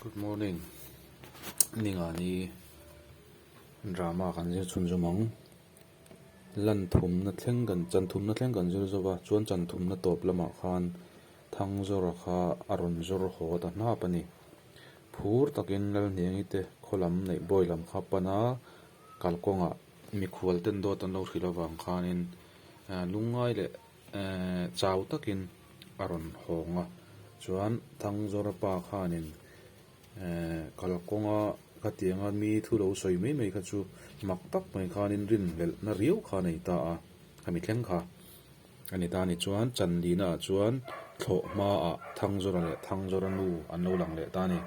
Good morning Ningani drama kan zir chhun zawm ang lan thumna thleng kan chan thumna thleng kan zir zawm a chuan chan thumna tawp lamah khan thang zawra kha a rawn zawr haw ta hnap a ni phur takin lalhniangi te khaw lam neih bawi lam kha pan a kalkawngah mikhual ten dawt an lo hrilh avang khanin lungngai leh-- chau takin a rawn hawng a, chuan Thangzawra pa khanin kalkawnga khatianga mi thu lo sawi mai mai kha chu mak tak mai khanin rinhlelhna riau kha a nei ta a, a mi thleng kha a ni ta ni chuan Chandina ah chuan thlawh hmaah Thangzawra leh Thangzawra nu an lo lang leh ta a ni.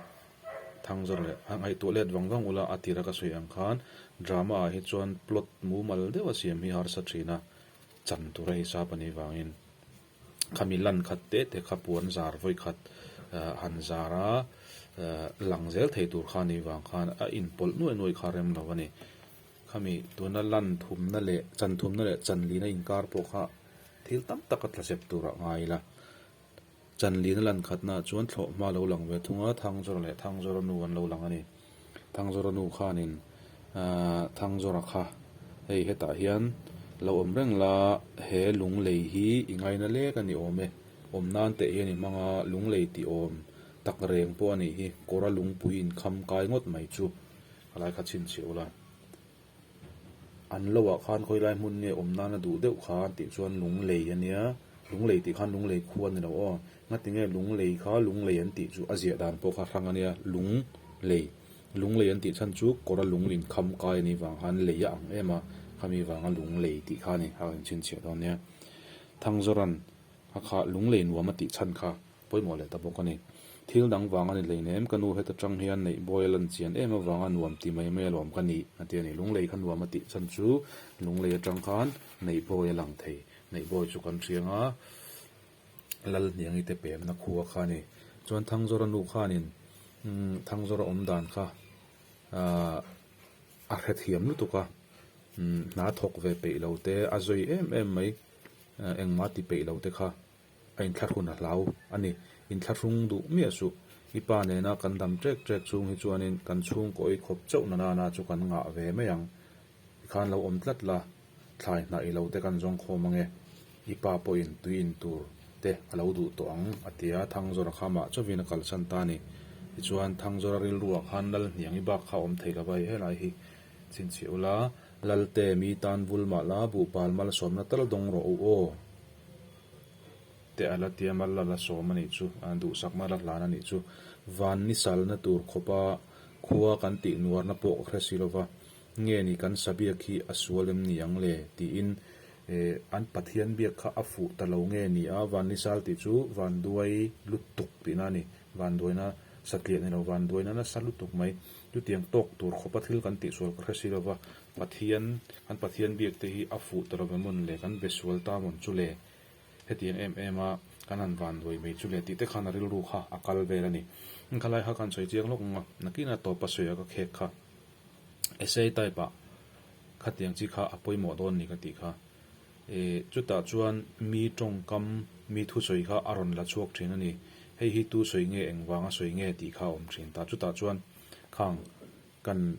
Thangzawra leh a ngaihtuah let vang vang ula a tirah ka sawi ang khan drama ah hi chuan plot mumal deuha siam hi harsa thin a. Chang tur a hisa pahnih vangin khami lan khat teh teh kha puan zar vawi khat han zar a, lang zel thei tur kha ni vang khan a inpawlh nuai nuai kha rem lo a ni. Khami tuna lan thumna leh chan thumna leh chanlina inkar pawh kha thil tam tak a tlasep tur a ngai ila. Chanlina lan khatnaah chuan thlawh hma lo lang ve thung a, Thangzawra leh Thangzawra nu an lo lang a ni. Thangzawra nu khanin, Aah, Thangzawra kha hei hetah hian lo awm reng la, he lung lei hi i ngaina lek a ni awm e. Awm nan teh hian i hmang a, lung lei ti awm tak reng pawh a nih hi, kawra lungpui in kham kai ngawt mai chu a lai kha chhinchhiah ula. An lo ah khan khawilai hmun nge awm nan a duh deuh kha an tih chuan Lunglei a nia, Lunglei tih khan Lunglei khua ni lo aw, ngati nge Lunglei kha Lunglei an tih chu a ziah dan pawh kha hrang a nia, Lung lei, Lunglei an tih chhan chu kawr a lung in kham kai a nih vang khan lei a ang em a, khami vang a Lunglei tih kha a ni a rawn chhinchhiah dawn nia. Thangzawran a kha Lunglei nuam a tih chhan kha Pawimawh leh ta bawk a ni. Thil dang vang a ni hleinem, ka nu heta chang hian neih bawi a lan chian em avanga nuam ti mai mai a lawm ka ni. A ti a ni. Lunglei kha nuam a tih chan chu lunglei atang khan neih bawi a lang thei. Neih bawi chu kan hriang a, Lalhniangi te pemna khua kha a ni. Chuan Thangzawra nu khanin umm Thangzawra awm dan kha ahh a hre thiam lutuk a, umm hna thawk ve peih lo te, a zawi em em mai engmah ti peih lo te kha A inthlahrun a hlau a ni. Inthlahrung duh miah suh. I pa nena kan dam ṭek ṭek chhung hi chuanin kan chhungkawi khawp chauh na nana chu kan ngah ve mai ang. I khan lo awm tlat la, thlai hnah ilo te kan zawng khawm ange. I pa pawhin tui in tur te a lo duh tawh ang, a ti a, Thangzawra kha mah chauhin a kalsan ta a ni. Tichuan, Thangzawra rilrua khan Lal hniang i bak kha a awm thei lova i helai hi chin chhe ula, Lalte, mi tan vul mah la, buh pal malsawmna tal dawng rawh u aw. te a la tia mal la la sawm a nih chu a duhsak mal a hlan a nih chu van ni salna tur khawpa khua kan tih nuarna pawh ka hre si lo va nge ni kan sa biak hi a sual em ni ang le tiin eh an pathian biak kha a fuh ta lo nge ni a van ni sal tih chu vanduai lutuk tihna a ni vanduaina satliah ni lo vanduaina nasa lutuk mai Chutiang tawk tur khawpa thil kan tih sual ka hre si lova, Pathian, kan Pathian biakte hi a fuh ta lo ve mawn le, kan be sual ta mawn chu le, hetiang em em a kan han van luai mai chu le tih te khan a rilru kha a kal vel a ni. Khalai kha kan sawi chiang lawk ang a, nakinah tawpa sawi a ka khek kha, essay type ah khatiang chi kha a pawimawh dawn a ni ka tih kha. Eh, chutah chuan mi tawngkam, mi thusawi kha a rawn la chhuak thin a ni. Hei hi tu sawi nge, engvanga sawi nge tih kha a awm thin ta. Chutah chuan khang kan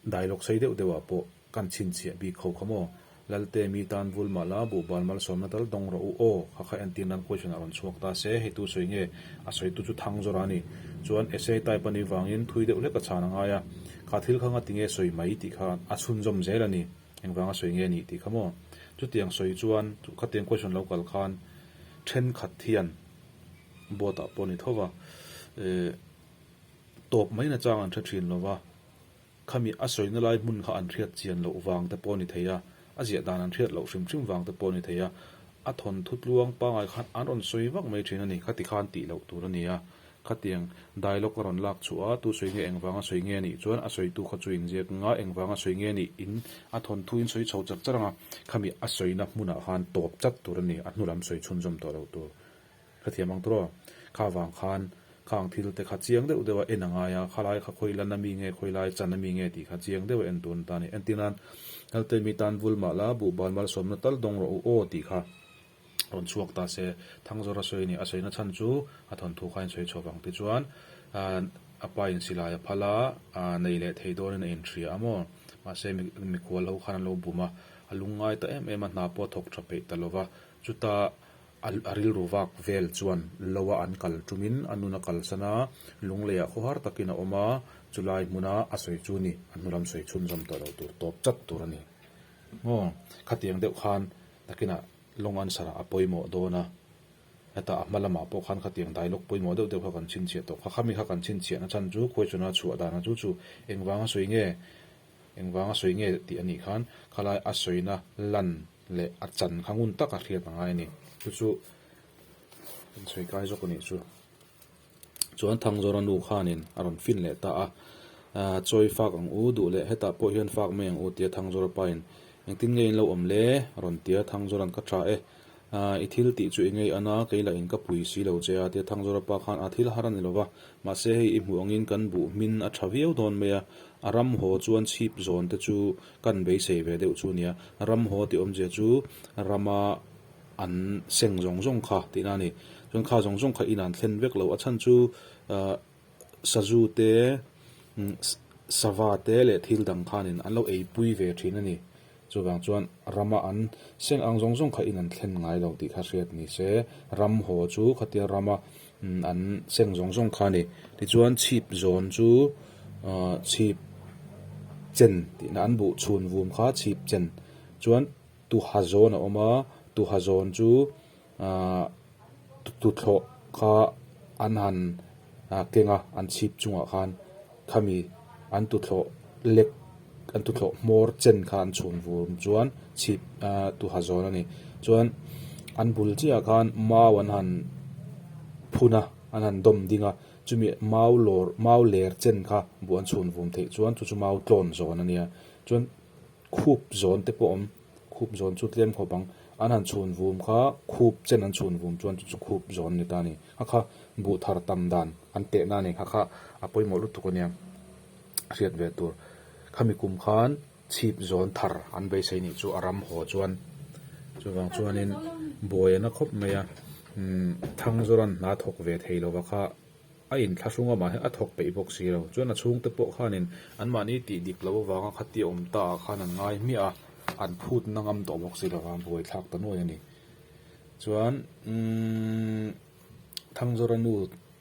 dialogue sei deuh deuhah pawh kan chhinchhiah bik kho kha maw? Lalte, mi tan vul mah la, buhbal malsawmna tal dawng rawh u aw, kha kha entir nan question a rawn chhuak ta se, hei tu sawi nge? A sawitu chu thang zawrh a ni. Chuan essay type a nih vangin thui deuh hlek a chhan a ngai a. Kha thil kha ngati nge sawi mai tih kha a chhunzawm zel a ni. Engvanga sawi nge nih tih kha maw? Chutiang sawi chuan khatiang question lo kal khan thenkhat hian boat ah pawh ni tho va eh tawp mai na chang an hre thin lo va, khami a sawi na lai hmun kha an hriat chian loh vang te pawh ni thei a, a ziah dan an hriat loh hrim hrim vang te pawh ni thei a, a thawnthu tluang pangai khan an rawn sawi vak mai thin a ni kha tikhan tih loh tur a nia. Khatiang dialogue a rawn lak chhuah a, tu sawi nge engvang a sawi nge nih chuan a sawitu kha chu in ziak ngheng a, engvang a sawi nge nih in a thawn thu in sawi chho chak chak ang a, khami a sawina hmunah khan tawp chat tur a ni, a hnu lam sawi chhunzawm tawh loh tur. Hrethiam ang tur aw, kha vang khan kha ang thil te kha chiang deuh deuh a en a ngai a, khalai kha khawi lan a mi nge, khawi lai chan a mi nge tih kha chiang deuh a en tur a ni ta a ni, entir nan Laltei mi tan vul mah la, buh bal malsawmna tal dawng rawh u aw tih kha rawn chhuak ta se, Thangzawra sawi a ni. A sawi na chhan chu a thawnthu kha in sawi chhuah vang tichuan a pa in silai a phal a, nei leh thei dawn in a inhria a maw. Mahse mi khual ho khan an lo bum a, a lung ngai ta em em a, hna pawh a thawk tha peih ta lo va. Chuta a rilru vak vel chuan lo a an kal tum in a nun a kalsan a, lunglei ah khawhar tak in a awm a, chu lai hmun a a sawi chu ni a hnulam sawi chhunzawm tawh lo tur tawp chat tur a ni. Maw? Khatiang deuh khan Takinah long answer-a a pawimawh dawn a, heta a hma lamah pawh khan khatiang dialogue pawimawh deuh deuh kha kan chhinchhiah tawh. Kha khami kha kan chhinchhiah na chhan chu question-a chhuah dana chu chu engvanga sawi nge, engvanga sawi nge tih anih khan khalai a sawina lan leh a chan kha ngun taka hriat a ngai a ni. Chu chu kan sawi kai zawk a nih chu. Chuan Thangzawra nu khanin a rawn fin leh ta a, Aa, chawi fak ang u duh le, hetah pawh hian fak mai ang u, tia Thangzawra pain. Engtin nge in lo awm le? a rawn tia, Thangzawra'n ka tha e. Aa, i thil tih chu i ngei an a, kei lah in ka pui si lo che a, tia Thangzawra pa khan a thil har a ni lova, mahse hei i hmuh angin kan buh hmin a tha viau dawn mai a, a ram haw chuan chhip zawn te chu kan beisei ve deuh chu a nia, ram haw tih awmzia chu rama, an seng zawng zawng kha tihna a ni. Chuan kha zawng zawng kha in an thlen vek lo. A chhan chu ah Sazu te umm Sava te leh thil dang khanin an lo eipui ve thin a ni. Chuvang chuan Rama an seng ang zawng zawng kha in an thlen ngai lo tih kha hriat ni se. Ram haw chu khatia Rama umm an seng zawng zawng kha a ni. Tichuan chhip zawn chu ah chhip chen tihna an buh chhun vum kha chhip chen chuan. Tuha zawn a awm a, tuha zawn chu tuthlawh kha an han keng a, an chhip chungah khan khami an tuthlawh lek, an tuthlawh hmawr chen kha an chhun vum chuan chhip tuha zawn a ni. Chuan an bul chiahah khan mau an han phun a, an han dawm ding a, chumi mau lawr, mau ler chen kha bu an chhun vum theih chuan chu chu mau tlawn zawn a nia. Chuan Khup zawn te pawh awm, khup zawn chu tlem khawp ang. An han chhun vum kha khup chen an chhun vum chuan chu chu khup zawn a ni ta a ni. Kha kha buh thar tam dan an tehna a ni. Kha kha a pawimawh lutuk a nia hriat ve tur. Khami kum khan chhip zawn thar an beisei nih chu a ram haw chuan. Chuvang chuanin buaia na khawp mai a, umm thangzawra'n hna thawk ve thei lova kha. A in thlahrung a mahse a thawk peih bawk si lo. Chuan a chhungte pawh khanin an mahni tih dik lo avanga khati a awm ta ah khan an ngai hmiah a, an phut na ngam tawh bawk si lo a, buai thlak ta nuai a ni. Chuan umm Thangzawra nu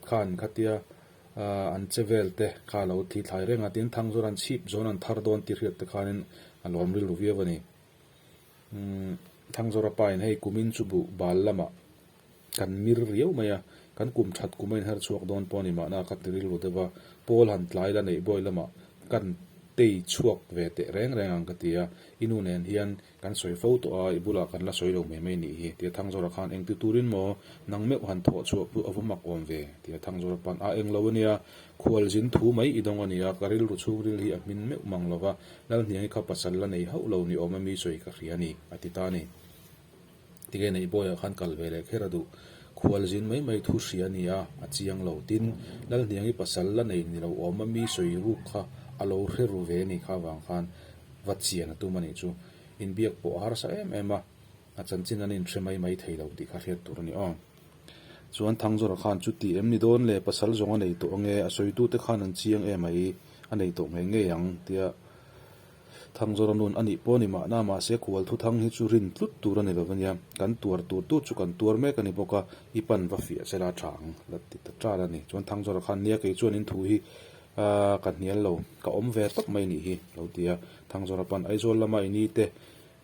khan khatia an che vel te kha a lo thi thlai reng a, tin Thangzawra an chhip zawn an thar dawn tih hriat te khanin a lo awm rilru viau a ni. Umm Thangzawra pa in hei kumin chu buh bal lamah. Kan mir riau mai a, kan kum that kuma inher chhuak dawn pawh a ni mahna ka ti rilru deuh a, Paul han tlai la neih bawi lamah kan tei chhuak ve teh reng reng ang ka ti a, i nu nen hian kan sawi fo tawh a, i bulah kan la sawi lo hmeh mai nih hi, tia Thangzawra khan eng ti turin maw nang meuh han thawh chhuah put a vu mak awm ve, tia Thangzawra pan a eng lo a nia, khual zin thu mai i dawng a ni a, ka rilru chhungril hi a hmin meuh mang lo va, Lalhniang i kha pasal la nei hauh lo ni awm a mi sawi ka hria a ni, a ti ta a ni. Tikei neih bawiah khan kal ve leh kher a duh. Khual zin mai mai thu hria a ni a, a chiang lo. Tin, Lalhniangi pasal la nei ni loh awm a mi sawi ruk kha a lo hre ru ve a nih kha avang khan va chian a tum a nih chu. Inbiak pawh a harsa em em a, a chanchin an inhre mai mai thei lo tih kha hriat tur a ni aw. Chuan Thangzawra khan chuti em ni dawn le, pasal zawng a nei tawh ange, a sawitute khan an chiang em a i, a nei tawh ngei ngei ang, tia. Thang zawra nun a nih pawh ni mahna mahse khual thu thang hi chu rin tlut tur a ni lova nia, kan tuar tur tu chu kan tuar mek a ni bawk a, i pan va fiah che la thang la ti ta tan a ni. Chuan thang zawra khan nia kei chuan in thu hi aaa ka hnial lo, ka awm ve tawp mai nih hi lo ti a, thang zawra pan Aizawl lama i ni te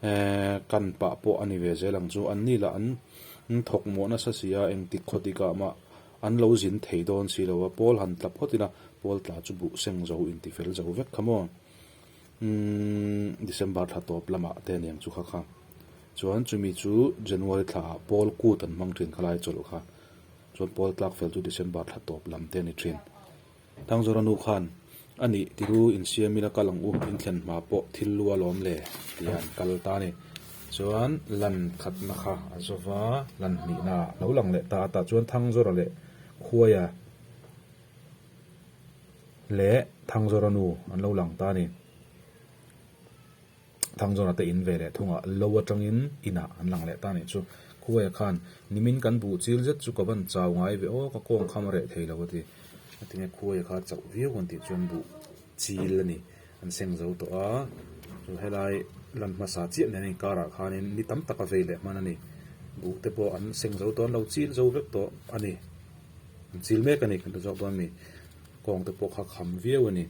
eee kan pah pawh a ni ve zel ang chu, anni lah an thawk mawh nasa si a, eng tik khaw dik ah mah an lo zin thei dawn si lo a, Paul han tla phawt in a, Paul tla chu buh seng zo in ti fel zo vek kha maw. Umm December thla tawp lamah te aniang chu kha kha. Chuan chumi chu January thla ah Paul kut an hmang thin kha lai chawlh kha. Chuan Paul tlak fel chu December thla tawp lam te ani thin. Thangzawra nu khan, Ani ti ru insiam ila kal ang u, inthlen hma pawh thil lu alawm le tia an kal ta ani. Chuan lan khatna kha a zawva lan hnihna ah lo lang leh ta a tah chuan Thangzawra leh Khuaia, Leh Thangzawra nu an lo lang ta a ni. Thangzawra te in ve leh thung ah lo atangin in ah an lang leh ta a nih chu. Khuaia khan, Nimin kan buh chil zet chu ka van chau ngai ve aw, ka kawngkham a reh thei lo a ti. A tinge Khuaia kha chauh viau kan tih chuan buh chil a ni. An seng zo tawh a, chu helai lan hmasa chiah nen a inkarah khanin ni tam taka vei leh hman a ni. Buh te pawh an seng zo tawh, an lo chil zo vek tawh a ni. An chil mek a ni, kan ta zawk dawn a mi. Kawng te pawh kha kham viau a ni.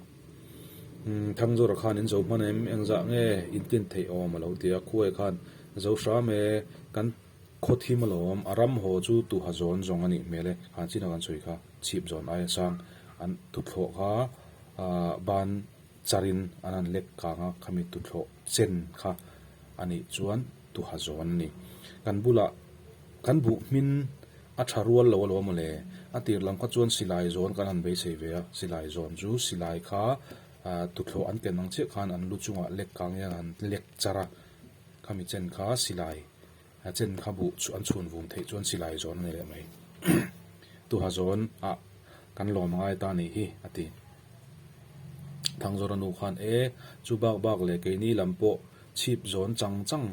Umm, Thangzura khanin zo hman em, engzah nge intlin theih awm a lo ti a, Khuaia khan zo hram e, kan. Khawthim alawm, a ram haw chu tuha zawn zawng anih hmel e, han chin a kan sawi kha, chhip zawn aia sang an thuthlawh kha ban char in an han lek kang a, khami thuthlawh chen kha anih chuan tuha zawn ani. Kan bulah kan buh hmin a tha rual lo alawm awle, a tirhlam kha chuan silai zawn kan han beisei ve a, silai zawn chu silai kha thuthlawh an ken ang chiah khan an lu chungah lek kang hian an lek char a, Kha mi chen kha silai a chen kha buh chu an chhun vum theih chuan silai zawn a ni leh mai. Tuha zawn a kan lawm ngai ta nih hi a ti. Thangzawra nu khan e chu bak bak leh keini lam pawh chhip zawn chang chang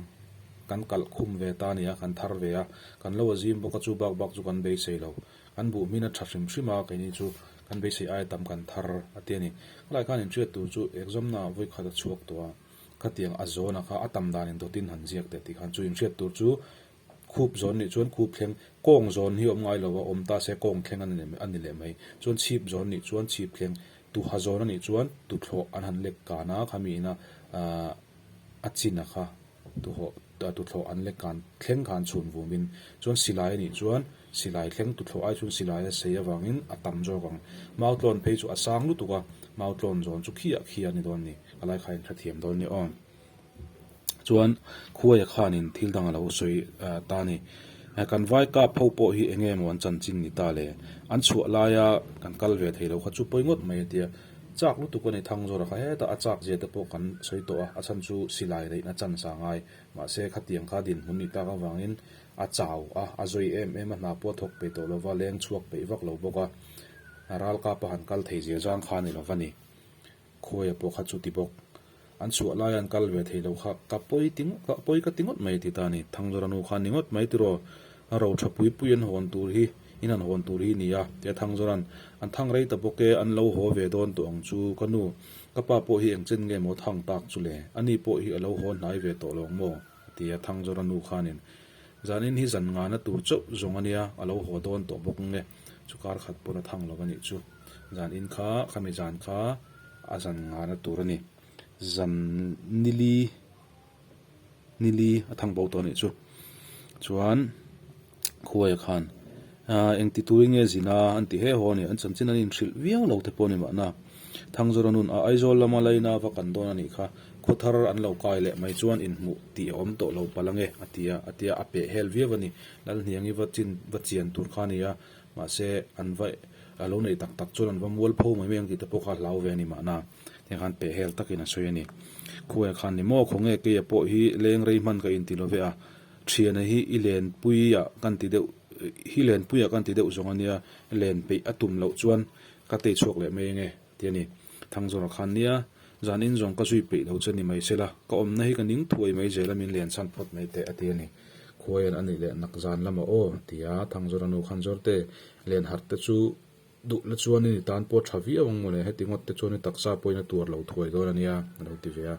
kan kalh khum ve ta nia kan thar ve a. Kan lo a zim bawk a chu bak bak chu kan beisei lo. Kan buh hmin a tha hrim hrim a keini chu kan beisei ai tam kan thar a ti a ni. Khalaih khan inhriat tur chu exam na vawi khat a chhuak tawh a. Khatiang a zawn a kha a tam dan in dawt in han ziak teh tih khan chu inhriat tur chu khup zawn nih chuan khup thleng, kawng zawn hi awm ngai lo va, awm ta se kawng thleng a ni leh mai, chuan chhip zawn nih chuan chhip thleng, tu ha zawn a nih chuan tu thlawh an han lek kan a kha miin a a chin a kha tu thlawh an lek kan thleng khan chhun vum in chuan silai a nih chuan. Silai thleng tu thlawh ai chuan silai a sei avangin a tam zawk ang. Mau tlawn phei chu a sang lutuk a, mau tlawn zawn chu khi ah khi a ni dawn ni. A lai khain hrethiam dawn ni aw. Chuan Khuaia khanin thil dang a lo sawi ta ni. Kan vai kap ho pawh hi eng emaw an chanchin ni ta le. An chhuah laia kan kal ve thei lo kha chu pawi ngawt mai a tia. Chak lutuk a ni, Thangzawra kha heta a chak zia te pawh kan sawi tawh a, a chhan chu silai reihna chance a ngai. Mahse, khatiang kha dinhmun nih tak avangin a chau a, a zawi em em a, hna pua thawk pe tawh lova, leng chhuak peih vak lo bawk a, ralkapa han kal thei zel zang kha a ni lo va ni. Khuaia pawh kha chu ti bawk. An chhuah laia an kal ve thei lo kha, ka pawi ti ngawt, ka pawi ka ti ngawt mai a ti ta a ni. Thanglawra nu kha ni ngawt mai tiraw, a ro tha pui pui an hawn tur hi, in han hawn tur hi a ni a, tia Thanglawran, An thang rei ta bawk e, an lo haw ve dawn tawh ang chu ka nu. Ka pa pawh hi eng chen nge maw thang tak chu le, a ni pawh hi a lo haw hnai ve tawh lawng maw? a ti a, Thangzawra nu khanin, Zan in hi zan ngana tur chauh zawng a nia, a lo haw dawn tawh bawk nge, chu kar khat pawn a thang lo a nih chu, zan in kha, ka mizan kha a zan ngana tur a ni, zan nili. Nili a thang bo tawh anih chu. Chuan Khuaia khan, Aaa, engti turin nge zin a? An ti he haw a ni. An chanchin an inhrilh viau lo te pawh a ni mahna, Thangzawra nun a Aizawl lama laina va kan dawn anih kha, khawthar an lo kai leh mai chuan inhmuh tih a awm tawh lo pal ange, a ti a, a ti a, a peh hel viau a ni. Lalhniangi va chin, va chian tur kha a ni a, mahse an va, a lo nei tak tak chuan an va mual pho mai mai ang tih te pawh kha a hlau ve a ni mahna. Heng khan peh hel takin a sawi a ni. Khuaia khan ni maw, khawnge keia pawh hi leng rei hman ka inti lo ve a, thiana hi i lenpuia kan ti deuh hi lenpuia kan ti deuh zawng a nia, len peih a tum loh chuan ka tei chhuak leh mai enge ti a ni. Thangzawra khan nia, zan in zawng ka zui peih lo che ni mai se la, ka awmna hi ka ning thuai mai zel a min len chhan phawt mai teh a ti a ni. Khuaian a nih leh nak zan lama aw tia Thangzawra nu khan zawrte len harh te chu Duhna chuan i ni tan pawh tha viau ang mawle, heti ngawtte chuan i taksa pawhin a tuar lo thuai dawn a nia, a lo ti ve a.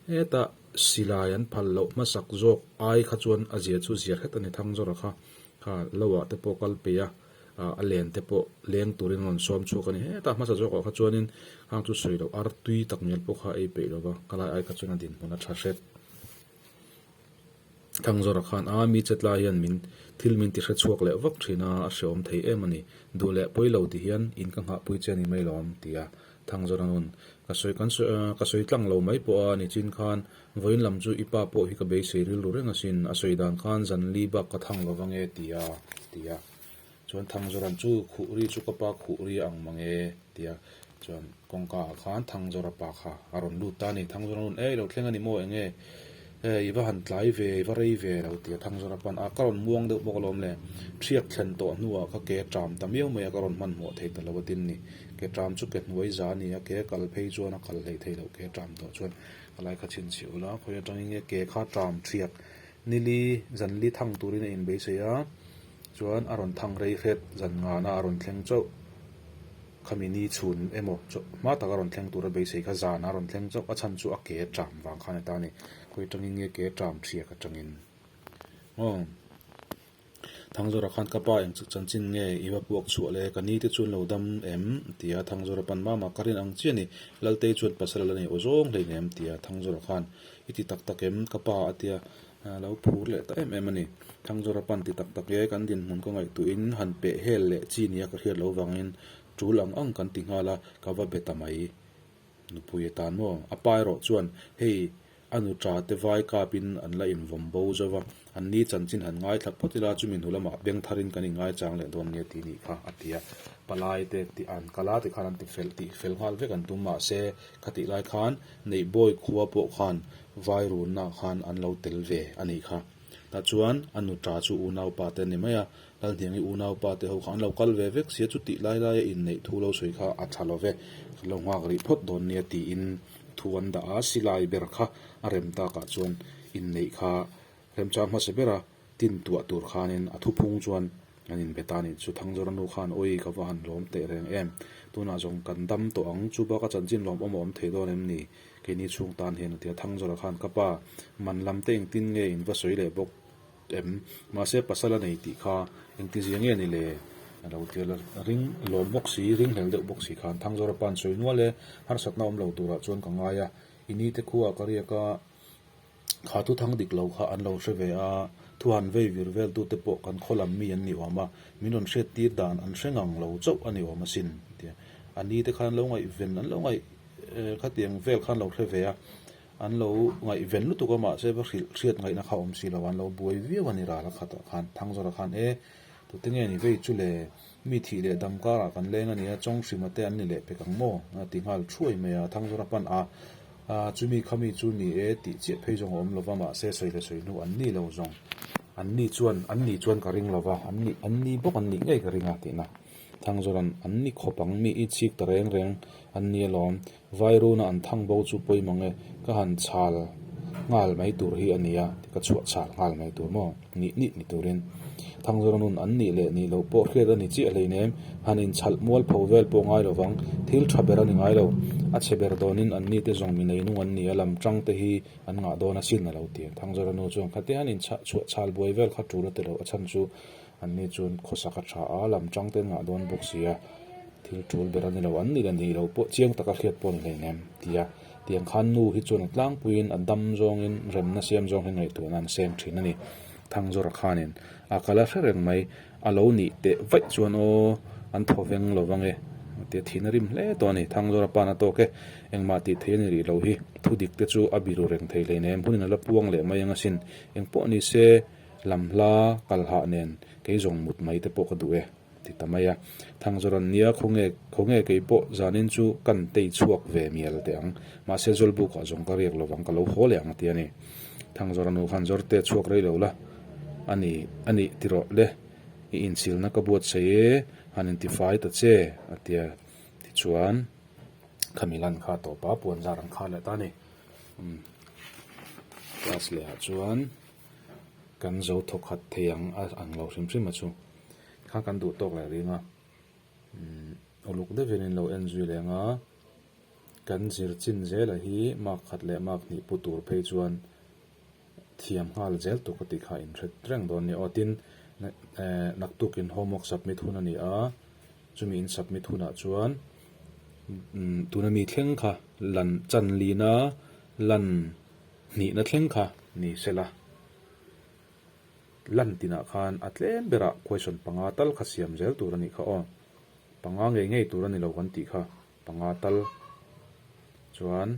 Heta silai an phal loh hmasak zawk ai kha chuan a zia chu zia hret a ni, Thangzawra kha kha loah te pawh kal peia a len te pawh leng turin a rawn sawm chhuak a ni. Heta hmasa zawkah kha chuanin hang chu sawi loh ar tui tak mial pawh kha a ei peih lo va, ka lai ai kha chuan a dinhmun a tha hret. Thangzawra khan a mi chet lai hian min thil min ti hre chhuak leh vak thin a, a hreawm thei em a ni. Duh leh pawi lo ti hian in ka nghah pui che a nih mai lo awm ti a Thangzawra nun. Ka sawi kan sawi aah ka sawi tlang lo mai pawh a ni chin khan vawiin lam chu i pa pawh hi ka beisei rilru reng asin, a sawi dan khan zanli bak ka thang lova nge ti a ti a. Chuan Thangzora chu khuh ri chu ka pa khuh ri a ang mang e tia chuan kawngka ah khan Thangzora pa kha a rawn lut ta a ni. Thangzora nun ei lo thleng a ni maw eng nge i va han tlai ve i va rei ve lo tia Thangzora pan ah ka rawn muang deuh bawk alawm le. Thiat thlen tawh hnu ah kha ke ṭam ta miau mai a ka rawn hmanhmawh thei ta lo a tin ni ke ṭam chu ke hnuai za a ni a ke kal phei chuan a kal hlei thei lo ke ṭam tawh chuan ka lai kha chhin chhi ula khawi aṭang i nge ke kha ṭam thiat Nili zanli thang turin a inbeisei a, chuan a rawn thang rei hret zan ngan a, a rawn thleng chauh. Khami ni chhun emaw chauh hma taka rawn thleng tura beisei kha zanah a rawn thleng chauh. A chhan chu a ke ṭam vang khan a ta a ni. Khawi ṭangin nge ke ṭam ṭhiak aṭangin? Ngaw! Thangzawra khan ka pa engchik chanchin nge i va puak chhuah le, ka ni te chu an lo dam em? a ti a, Thangzawra pan mama ka rin ang chiah ni, Laltei chuan pasal a la nei aw zawng hlei nen, a ti a, Thangzawra khan i ti tak tak em? ka pa a ti a, a lo phur leh ta em em a ni, Thangzawra pan ti tak tak e, kan dinhmun ka ngaih tuh in han peh hel leh chi nia ka hriat lo vang in, Tul ang ang kan ti nghal a, ka va be ta mai. Nupui a tan maw? A pa erawh chuan hei a nu ṭa te vai kap in an la in vawm bo zauh va, an ni chanchin han ngaithla phawt ila chu min hu lam ah beng thar in kan in ngaichang leh dawn nia ti nih kha a ti a. Palai te tih an kal a tikhan an ti fel tih fel nghal vek an tum mah se kha tih lai khan Neihbawi khua pawh khan vai run na khan an lo tel ve a nih kha. Tah chuan a nu ṭa chu unau pa te ni mai a Lalhniangi unaupa te ho kha an lo kal ve vek sia chu tih lai lai a inneih thu lo sawi kha a tha lo ve kan lo nghak rih phawt dawn nia tiin thu an dah a, silai ber kha a rem tak ah chuan inneih kha remchang hmasa ber a tin tuah tur khanin a thuphung chuan an inbe ta nih chu Thang Zawranu khan awi ka va han lawm teh reng em, tunah zawng kan dam tawh ang chu baka chanchin lawm awm a awm thei dawn em ni? Keini chhung tan hian a ti a, Thang Zawra khan ka pa man lam te engtin nge in va sawi leh bawk? Em, mahse pasal a nei tih kha engtin zia nge ni le? A lo tir la ring lawm bawk si, ring hlel deuh bawk si khan thang zawra pan sawi nual e, harsatna awm lo turah chuan ka ngai a, i ni te khuaa ka riak a, kha thu thang dik lo kha an lo hre ve a, thu han vei vir vel tu te pawh kan khaw lam mi an ni awm a, min rawn hriat tir dan an hre ngang lo chauh a ni awm asin a ti a, a ni te khan an lo ngaih ven an lo ngaih kha tiang vel kha an lo hre ve a. An lo ngaihven lutuk a mahse va hrilh hriat ngaihna kha awm si lo, an lo buai viau a ni ral a khatah khan. Thangzawrah khan, E, tute nge ni vei chu le? Mi thih leh dam karah kan leng a nia, chawng hrim ate an ni leh pek ang maw? a ti nghal thuai mai a. Thangzawrah pan a, A, chumi khami chu ni e tih chiah phei zawng a awm lova, mahse sawi le sawi hnu an ni lo zawng. An ni chuan, An ni chuan ka ring lova, an ni, an ni bawk an nih ngei ka ring a, tihna. Thangzawra'n an ni khawp ang, mi i chhik ta reng reng an ni alawm. Vairuna an thang bo chu pawimawh nge ka han chhal nghal mai tur hi a nia ti ka chhuah chhal nghal mai tur maw nih nih ni turin Thangzarawnun an nih leh nih loh pawh hriat a ni chiah hleinem han in chhalh mual pho vel pawh ngai lo vang thil tha ber a ni ngai lo a chhe ber dawnin an ni te zawng mi nei nung an ni a lam tang te hi an ngah dawn asin a lo ti Thangzaranu chuan khatiang in chhah chhuah chhal buai vel kha tul a ti lo a chhan chu Anni chuan khawsak a tha a, lam chang ten ngah dawn bawk sia, thil tul ber a ni lo, an nih a nih loh pawh chiang taka hriat pawh a ni hleinem ti a. Tiang khan nu hi chuan a tlangpuiin a dam zawngin remna siam zawng hi ngaihtuahna an seng thin a ni. Thangzawra khanin a kal a hre reng mai, a lo nih teh vaih chuan aw an thaw veng lo vang e tia thihna a rim hle tawh a ni. Thangzawra pan a tawk e, engmah tih theih a nih rih lo hi, thudik te chu a biru reng thei hleinem, hunin a la puang leh mai anga sin, engpawh ni se Lam hla kal hah nen kei zawng mut mai te pawh ka duh e, ti ta mai a. Thangzawran nia khaw nge khaw nge kei pawh zanin chu kan tei chhuak ve mial teh ang, mahse Zawlbukah zawng ka riak lovang ka lo haw leh ang a ti a ni. Thangzawran u han zawr te chhuak rei lo la, a ni a nih ti rawh le, i inchhilna ka buatsaih e, han intifai ta che, a ti a. Tichuan, Khamilan kha tawpa puan zar an khar leh ta a ni. Umm Class lehah chuan. kan zo thawk khat thei ang a ang lo hrim hrim a chu kha kan duh tawk leh rîng a umm uluk deuh hian in lo en zui leh ang a kan zir chin zêl ah hi mâk khat leh mâk hnih pu tûr phei chuan thiam nghal zêl tûk a tih kha a in hre reng dawn a ni aw tin ehh naktuk in homework submit hun a ni a chumi in submit hun ah chuan umm tûn a mi thleng kha lan chanlîna lan. Hnihna thleng kha ni se la, lan tinah khan a tlem berah question panga tal kha siam zel tur a nih kha aw. Panga ngei ngei tur a ni lo kan tih kha, panga tal chuan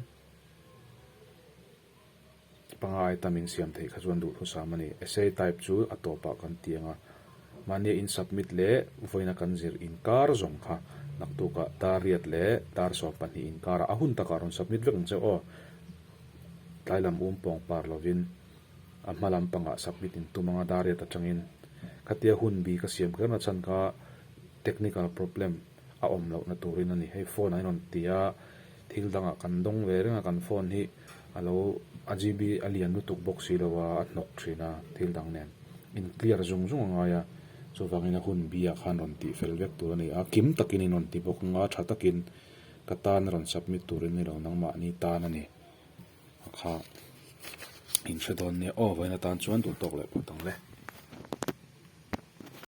panga ai tamin siam theih kha chuan duhthusam a ni. Essay type chu a tawpah kan ti ang a. Mahni in submit leh vawiina kan zir inkar zawng kha naktukah Tariat leh Tarsawm pahnih inkarah a hun takah rawn submit vek ang che aw. Tlai lam um pawng par lovin a hma lam pangah submit in tum anga Dariat atangin khatia hun bi ka siam kher nachan kha technical problem. a awm loh na turin a ni. Hei phone ah i rawn ti a, thil dang ah kan dawng ve reng a, kan phone hi a lo, a GB a lian lutuk bawk si lo a, a hnawk thin a, thil dang nen in clear zung zung a ngai a, chuvangin a hun bi ah khan rawn tih fel vek tur a ni a, kim takin in rawn ti bawk a, nga tha takin ka tan a rawn submit turin ni lo, nangmah ni tan a ni a kha in hre dawn nia, aw vawiin atan chuan duh tawk leh pawt ang le.